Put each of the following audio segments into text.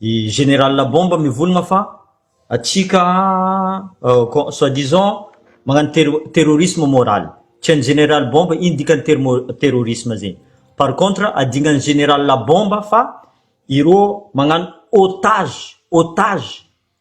I général la bombe mivolagna fa atsika soit disant magnano ter- terrorisme moral, tsy hain'ny général bombe ino dikan'ny termo- terrorisme zegny, par contre adignan'ny général la bombe fa ireo magnano otage, otage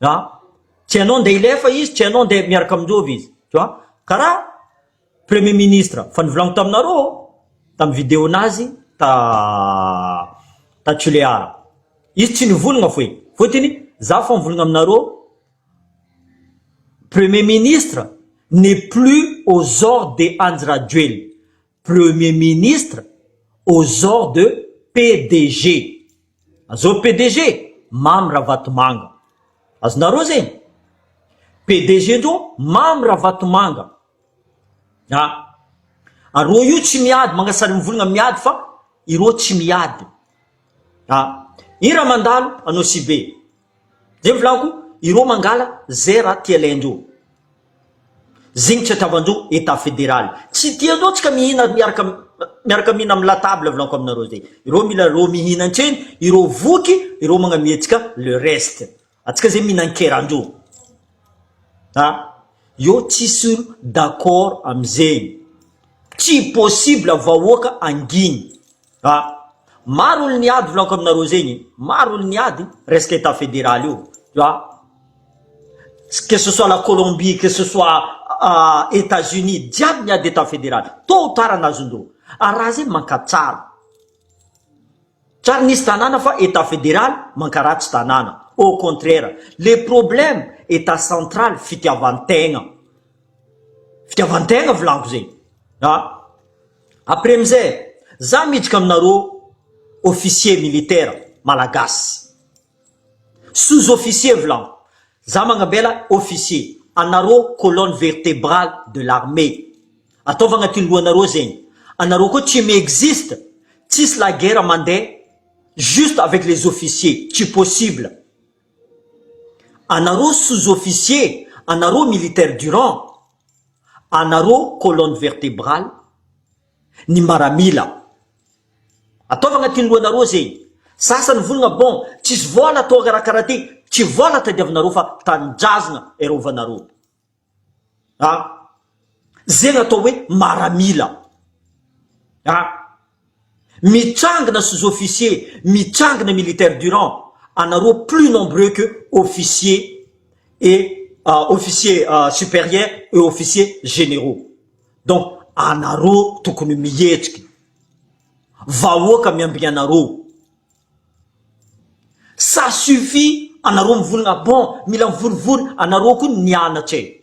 an, tianao ndeha hilefa izy tianao ndeha miaraka aminjovy izy tu vois karaha premier ministre fa nivolaniko taminareo tam video nazy ta ta Tulear izy tsy nivolagna foy fotony za fa mivolagna aminareo premier ministre n'est plus aux ordres de Andry Rajoelina Premier ministre aux ordres de PDG. Azao PDG, Mamy Ravatomanga. Azonareo zegny? PDG ndreo Mamy Ravatomanga. A! Areo io tsy miady, Mangasary Mivolagna miady fa ireo tsy miady. A! Ira mandalo anao Sibe, Zay ny volako ireo mangala zay raha tialaindreo. Zegny tsy atravan-dreo etat federal. Tsy tian-dreo tsika mihina miaraka miaraka mihina amin'ny la table volako aminareo zay. Ireo mila reo mihina antreny, ireo voky, ireo magnamia antsika le reste. Antsika zay mihinan-keran-dreo. Ha? Eo tsisy olo d'accord amizegny. Tsy possible vahoaka anginy. A, maro olo niady volako aminareo zegny, maro olo niady resaka etat federal io, tu vois, que ce soit la Colombie, que ce soit etats unis jiaby niady etat federal, tot ou tard an'azon-doha, ary raha zegny mankatsara, tsary nisy tanàna fa etat federal mankaratsy tanàna, au contraire, le problème etat central fitiavan-tegna, fitiavan-tegna volako zegny, a. Après amizay za miditra aminareo officier militaire malagasy sous officier vlam za magnambela officier anareo colonne vertebrale de l'armee ataovy agnatin'ny lohanareo zegny anareo koa tsy mi-existe tsisy la guerre mande juste avec les officiers tsy possible anareo sous officier anareo militaire durant anareo colonne vertebrale ny maramila ataovy agnatin'ny lohanareo zegny sasany volagna bon tsisy vola atao karakara ty tsy vola tadiavinareo fa tanindrazagna erovanareo a zegny atao hoe maramila a Mitrangina sous officier, mitrangina militaire durant anareo plus nombreux que officier et officier superieur et officier generaux donc anareo tokony mihetrika vahoaka miambigny anareo ça suffit anareo mivonona bon mila mivorivory anareo koa nianatra e!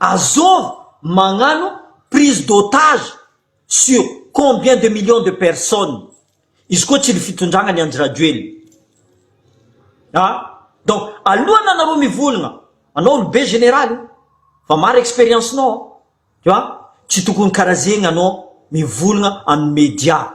Azov magnano prise d'otage sur combien de millions de personnes? Izy koa tsy ny fitondragna ny Andry Rajoelina a! Donc alohan'ny anareo mivolagna, anao olobe général e! Fa maro expérience-nao an! Tu vois? Tsy tokony karaha zegny anao mivolagna amin'ny media.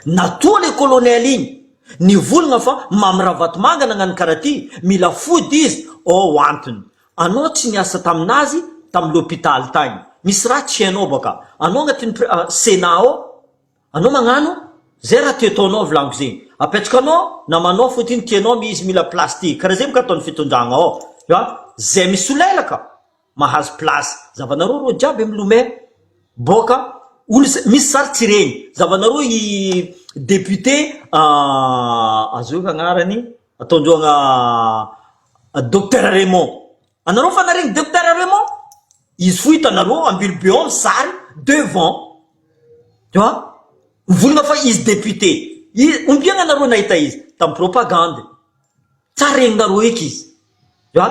Natoa le colonel igny nivolagna fa Mamy Ravatomanga nagnano karaha ty, mila fody izy, ao antony. Anao tsy niasa taminazy tamin'ny le hôpital tagny. Misy raha tsy hainao ba ka. Anao agnatin'ny pri, senat ao, anao magnano zay raha te ataonao volagno zegny. Apetrakanao namanao fô ty ny tianao mi izy mila place ty. Karaha zegny ba ka ataon'ny fitondragna ao. Tu vois? Zay misy solelaka. mahazo place zavanareo reo jiaby amy lomè boka olo misy sary tsy reny zavanareo i député azeo efa agnarany ataondreo agna docteur Raymond anareo fa naregny docteur Raymond izy fo hitanareo ambilobe ao ny sary devant tu vois mivolagna fa izy député i ombiagna anareo nahita izy tamy propagande Sa reninareo eky izy a?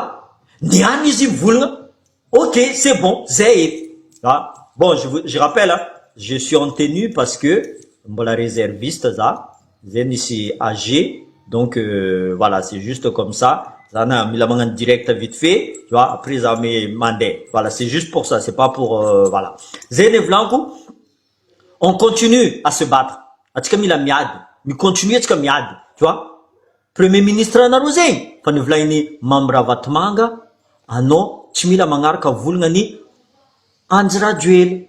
Ny any izy mivolagna ok c'est bon zay eky a! Bon je vous je rappelle a! Je suis en tenue parce que mbola reserviste za zay misy age donc voilà c'est juste comme ça za na mila magnano direct vite fait tu vois après za me mandeha voilà c'est juste pour ça c'est pas pour voilà zay anie volagniko On continue à se battre, antsika mila miady, mi-continuer antsika miady, tu vois, premier ministre anareo zegny fa nivolain'i Mamy Ravatomanga anao tsy mila magnaraka volagna an'i Andry Rajoely,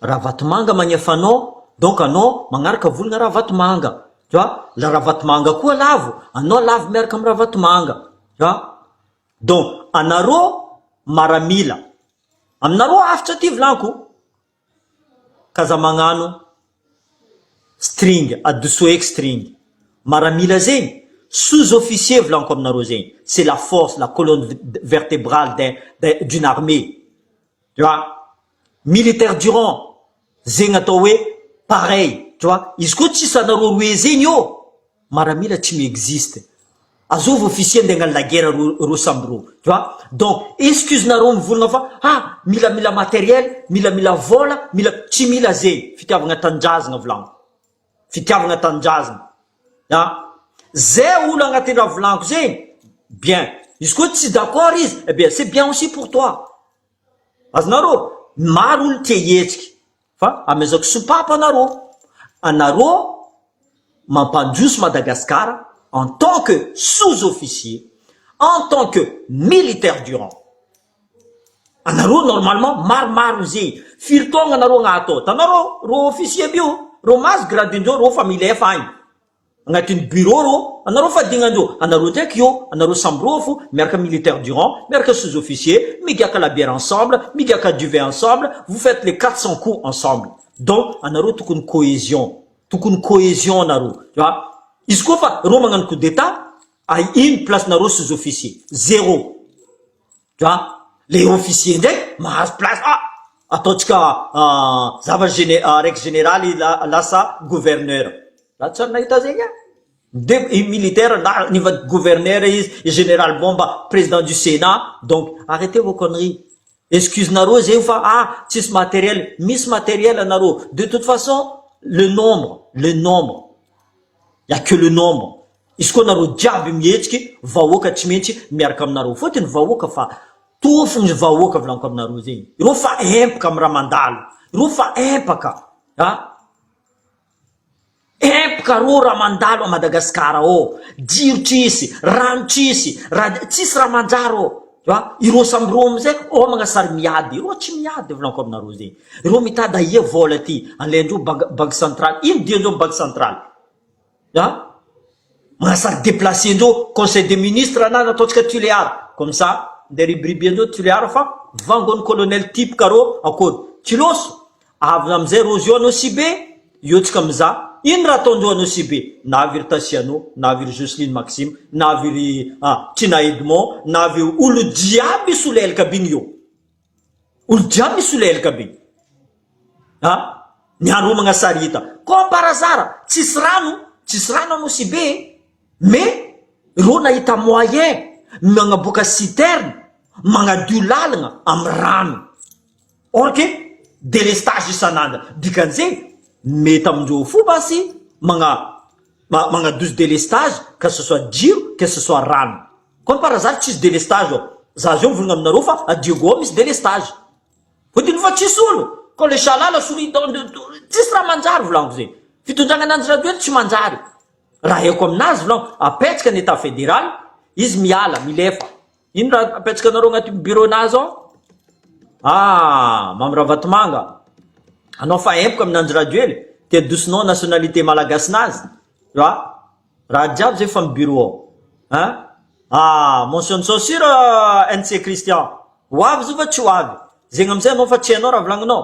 Ravatomanga magnefa anao donc anao magnaraka volagna Ravatomanga, tu vois, la Ravatomanga koa lavo anao lavo miaraka amin'i Ravatomanga, tu vois, donc anareo maramila, aminareo avotra ty volagno ko. ka aza magnano string adoso eky string maramila zegny sous officier volaniko aminareo zegny c'est la force la colonne vertebrale d'un d'un d'une armée tu vois militaire durant zegny atao hoe pareil tu vois izy koa tsisy anareo roe zegny ô Maramila tsy mi existe. Azovy officier ndeha hagnano la guerre ro roa samby roa. Tu vois? Donc, excuse nareo mivolagna fa ha mila mila matériel, mila mila vola, mila tsy mila zegny. Fitiavagna tanindrazagna volagno. Fitiavagna tanindrazagna. Ha? Ze olo agnatin'ny raha volagno zegny, bien. Izy koa tsy d'accord izy, eh bien, c'est bien aussi pour toi. Azonareo? Maro olo tia hihetsiky. Fa amezako sopapa anarô. Anarô mampandroso Madagascar en tant que sous-officier, en tant que militaire du rang. Anarô normalement maromaro ze firy taogna anarô agnaty ao. Tanao rô, rô officier bio, rô mahazo gradin-dreo, rô fa milefa agny. Agnatin'ny bureau rô anareo fadignandreo anareo ndraiky io anareo samborofo miaraka militaire durant miaraka sous officier migiaka labiera ensemble migiaka duvet ensemble vous faites les quatre cent coups ensemble donc anareo tokony cohesion tokony cohesion anareo fa izy koa fa reo magnano coup d'etat ino place nareo sous officier zero. Dra, le officier ndray mahazo place ah! ataontsika zava gene, raiky generaly lasa gouverneur. Za tsy ary nahita zegny an! de i militaire na niva gouverneur izy, i generaly bomba president du senat, donc arretez vos conneries, excuse nareo zegny fa ah tsisy materiel, misy materiel anareo, de toute façon le nombre, le nombre, il ya que le nombre. Izy koa nareo jiaby mihetsiky vahoaka tsy mentsy miaraka aminareo fotiny vahoaka fa toa fony vahoaka volaniko aminareo zegny ireo fa empaka am raha mandalo ireo fa empaka a empaka arô raha mandalo a Madagascar ao jiro tsisy rano tsisy raha tsisy raha manjary ô a ireo samy ireo amizay homagna sary miady ireo tsy miady volaniko aminareo zegny ireo mitady aia vola ty alaindreo bank banky centraly ino diandreo am banky centraly An! Mahasahy deplacer andreo conseil des ministres ana no ataontsika Tulear comme ça ndeha ribiriby andreo Tulear fa vangon'ny colonel type ka rô akory Kilôso avy amizay Rojo anao sy be eo tsika mizaha ino raha ataondreo anao sy be na avy ry Tasiano na avy ry Jocelyne Maxime na avy ry Trina Edmond na avy olo jiaby solelika aby iny eo Olo jiaby misolelka be a! Ny haromagna sary hita comme par hasard tsisy rano tsisy rano à Nosy be e! Mais ireo nahita moyen nagnaboaka citerne magnadio lalagna amin'ny rano or que délestage isan'andro dikan'izegny mety amin-dreo fo basy magna ma magnaduce délestage que ce soit jiro que ce soit rano comme par hasard tsisy délestage ao za zao mivolagna aminareo fa à Diego ao misy délestage hodininy fa tsisy olo ko le Shalala sourit dans le dos tsisy raha manjary volagniko zegny fitondragna ananjy raha toa eto tsy manjary raha haiko aminazy volagniko apetraka ny état fédéral izy miala milefa Ino raha apetraka anareo agnaty bureau nahy zao? Ah, Mamy Ravatomanga, anao fa empoka amin' Andry Rajoely, te adosonao ny nationalité malagasy nazy, tu vois? Raha jiaby zay fa am bureau ao. Hein? Ah, motion de censure NC Christian, ho avy izy io va tsy ho avy? Zegny amizay anao fa tsy hainao raha volagninao.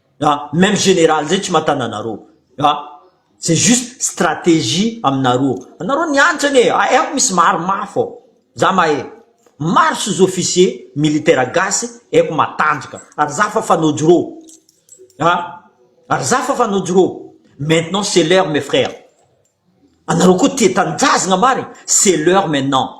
a même général zay tsy matana anareo a c'est juste stratégie aminareo anareo ny hanitra anie aiko misy maro mafy ao za mahay maro sy zo officier militaire gasy aiko matanjaka ary za fa fanojro a ary za fa fanojro maintenant c'est l'heure mes frères anareo koa tia tanindrazagna marigny c'est l'heure maintenant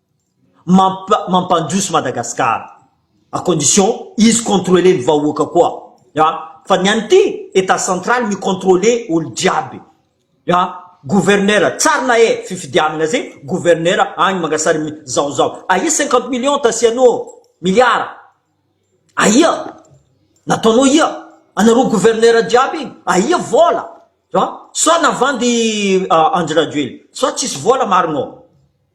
mampandroso Madagascar à condition izy contrôler ny vahoaka koa ya fa ny any ty etat central mi contrôler olo jiaby ya gouverneur tsarina eh fifidianana zay gouverneur any mangasary mi zao zao ahia cinquante millions tasianao miliara ahia nataonao ia anareo gouverneur jiaby iny ahia vola ya sa navandy Andry Rajoelina sa tsisy vola marina ô.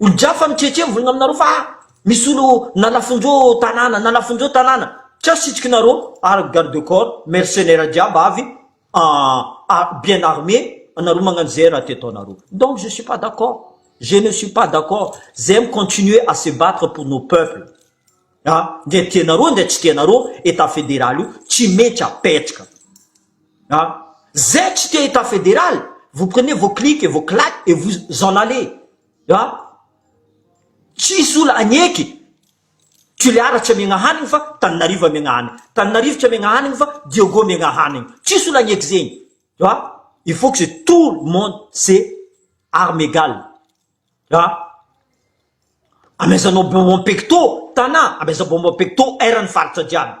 Olon-drafa mitretré mivonona aminareo fa misy olo nalafonjo tanàna nalafonjo tanàna ca sitrikinareo ary garde corps mercenaires jiaby avy à bien armé anareo magnano zay raha te ataonareo donc je suis pas d'accord je ne suis pas d'accord zay mi continuer à se battre pour nos peuples a ndra tianareo ndra tsy tianareo état fédéral io tsy maintsy apetraka. Zay tsy te etat federal vous prenez vos clic et vos clac et vous en allez tsisy ola agneky tulear tsy amiagna hanigny fa taninarivo amiagna hanigny taninarivo tsy amiagna hanigny fa diogo amiagna hanigny tsisy ola agneky zegny il faut que tout le monde se arme egal amezano bonbon pecto tana amezano bonbon pecto air ny faritra jiaby.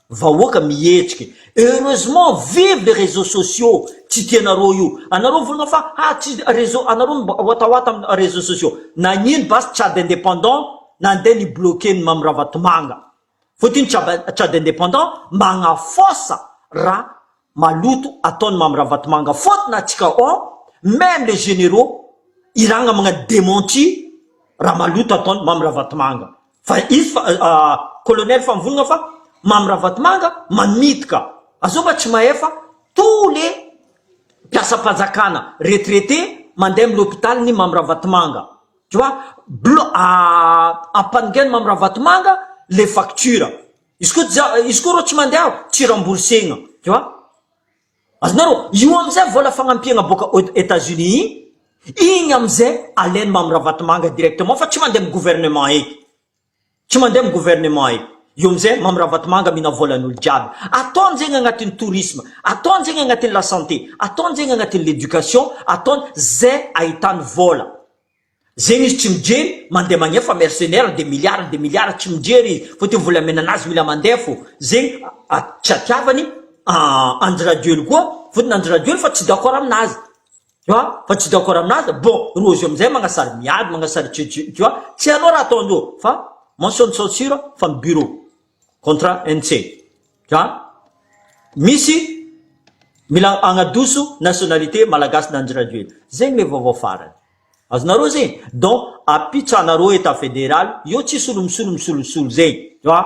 Vahoaka mihetsika. Heureusement vive les réseaux sociaux tsy tianareo io. Anareo vonona fa ah tsy réseau anareo no mba watawata am réseaux sociaux. Nagnino basy Tchad indépendant nandeha ni bloquer ny Mamy Ravatomanga. Fotiny Tchad indépendant magnafosa raha Maloto ataony Mamy Ravatomanga faute n'a tsika on meme les généraux iragna magnano dementi raha maloto ataony Mamy Ravatomanga fa izy fa colonel Famvolagna fa Mamy Ravatomanga manitika azao mba tsy mahefa tous les mpiasam-panjakana retraité mandeha amin'ny l'hôpital ny Mamy Ravatomanga tu vois blo ampaningeno Mamy Ravatomanga les factures Izy koa ja izy koa rô tsy mandeha aho tsy remboursegna tu vois, azonareo io amizay vôla fagnampiagna bôka ôd Etats Unis igny, igny amizay alaigny mamy Ravatomanga directement fa tsy mande amy gouvernement eky, tsy mande amy gouvernement eky, io amizay mamy Ravatomanga mihina vôlan'olo jiaby, ataony zegny agnatin'ny tourisme, ataony zegny agnatin'ny la santé, ataony zegny agnatin'ny l'éducation, ataony zay ahitany vôla. Zegny izy tsy mijery mandeha magnia fa mercenaire de milliards de milliards tsy mijery izy fa te volamena nazy mila mandeha fô zegny tsy hatiavany Andry Rajoely koa fotony Andry Rajoely fa tsy d'accord aminazy tu vois fa tsy d'accord aminazy bon Rojo amizay magnasary miady magnasary tu vois tsy hainao raha ataondreo fa mention de censure fa ny bureau. Contra NC. Dra. Misy Mila agnadoso nationalité malagasy Nandry Rajoelina. Zegny le vaovao farany. Azonareo zegny? Donc apitsanareo etat fédéral eo tsisy olo misolo misolosolo zegny. Dra.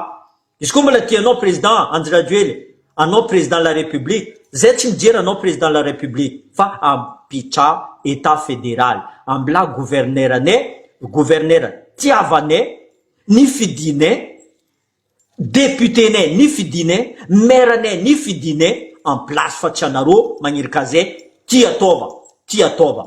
Izy koa mbola tia anao président Andry Rajoelina, anao président la république, zay tsy mijery anao président la république fa ampitsa etat fédéral. Ambilà gouverneur anay, gouverneur tiavanay, Nifidinay Député-nay Nifidinay Maire-nay Nifidinay en place fa tsy anareo magnirika zay ty ataova ty ataova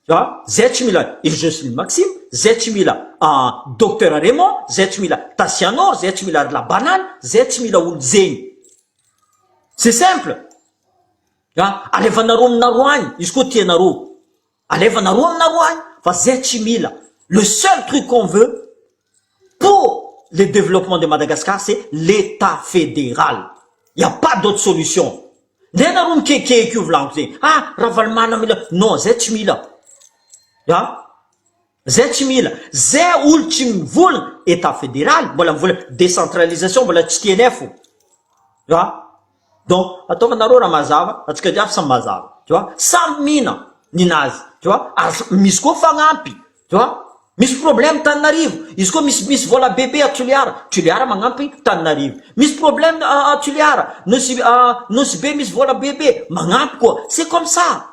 a zay tsy mila i Jocelyne Maxime zay tsy mila an Docteur Raymond zay tsy mila Tasianoro zay tsy mila ry la banane zay tsy mila olo zegny c'est simple a alevanareo aminareo agny izy koa tianareo Alefanareo aminareo any fa zay tsy mila, le seul truc qu'on veut pour le développement de Madagascar c'est l'Etat Fédéral, il n'y a pas d'autre solution, ndray nareo mikekehika io volagno zay, ah Ravalomanana mila, non zay tsy mila, an. Zay tsy mila, ze olo tsy mivola, etat federal mbola mivola, decentralisation mbola tsy tnf o, tu vois, donc ataova nareo raha mazava, atsika jiaby samy mazava, tu vois, samy mina ny nazy, tu vois, ary misy koa fagnampy, tu vois, misy problème Tananarivo, izy koa misy misy vola bebe à Toliara, Toliara magnampy Tananarivo, misy problème à Toliara, Nosy Nosy be misy vola bebe magnampy koa, c'est comme ça.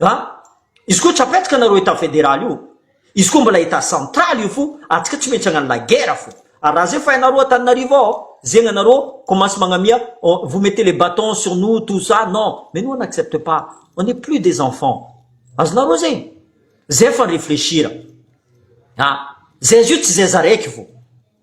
A, izy koa tsy apetraka nareo etat federal io, izy koa mbola etat central io fo atsika tsy maintsy agnano la guerre fo ary raha zay fa ianareo Antananarivo ao zegna nareo commence magnamia vous mettez les batons sur nous tout ça non mais nous on accepte pas on est plus des enfants azonareo zegny zay fa reflechir a zay zio tsy zay za raiky fo.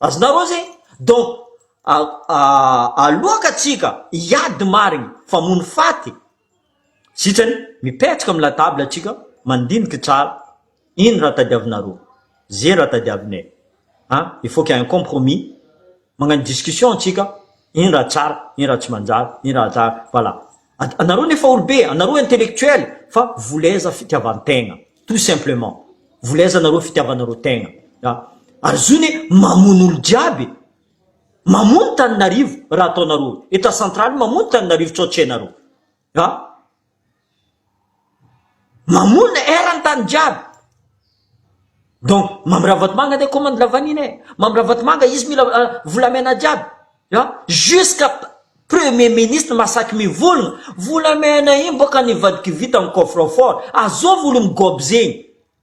Azonareo zay? Donc aloaka tsika hiady marigny fa mony faty sitrany mipetraka am la table atsika mandiniky tsara ino raha tadiavinareo ze raha tadiavinay an il faut qu'il y a un compromis magnano discussion tsika ino raha tsara ino raha tsy manjary ino raha tsara voilà. Anareo nefa olobe, anareo intellectuel fa voleza fitiavantegna tout simplement. Voleza nareo fitiavanareo tegna a! Ary zony e mamono olo jiaby e! Mamono taninarivo raha ataonareo, etat central mamono taninarivo tso tsy hainareo a! Mamono eran-tany jiaby. Donc Mamy Ravatomanga andeha commande la vanille e. Mamy Ravatomanga izy mila volamena jiaby an, jusqu'à premier ministre mahasaky mivolona, volamena iny boka nivadikivita ny coffre fort, azôvy olo migôby zegny.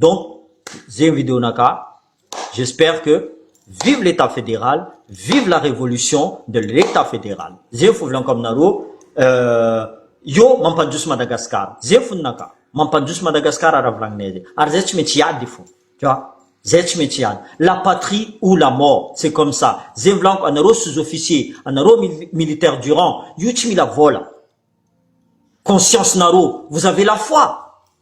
Donc zegny video naka, j'espère que vive l'etat federal, vive la révolution de l'etat federal, zegny fo volanko aminareo, io mampandroso Madagascar, zegny fo ninaka, mampandroso Madagascar raha volagninay zay, ary zay tsy maintsy hiady fo, tu vois, zay tsy maintsy hiady, la patrie ou la mort, c'est comme ça, zegny volaniko, anareo sous officier, anareo militaire durant, io tsy mila vôla, conscience nareo, vous avez la foi.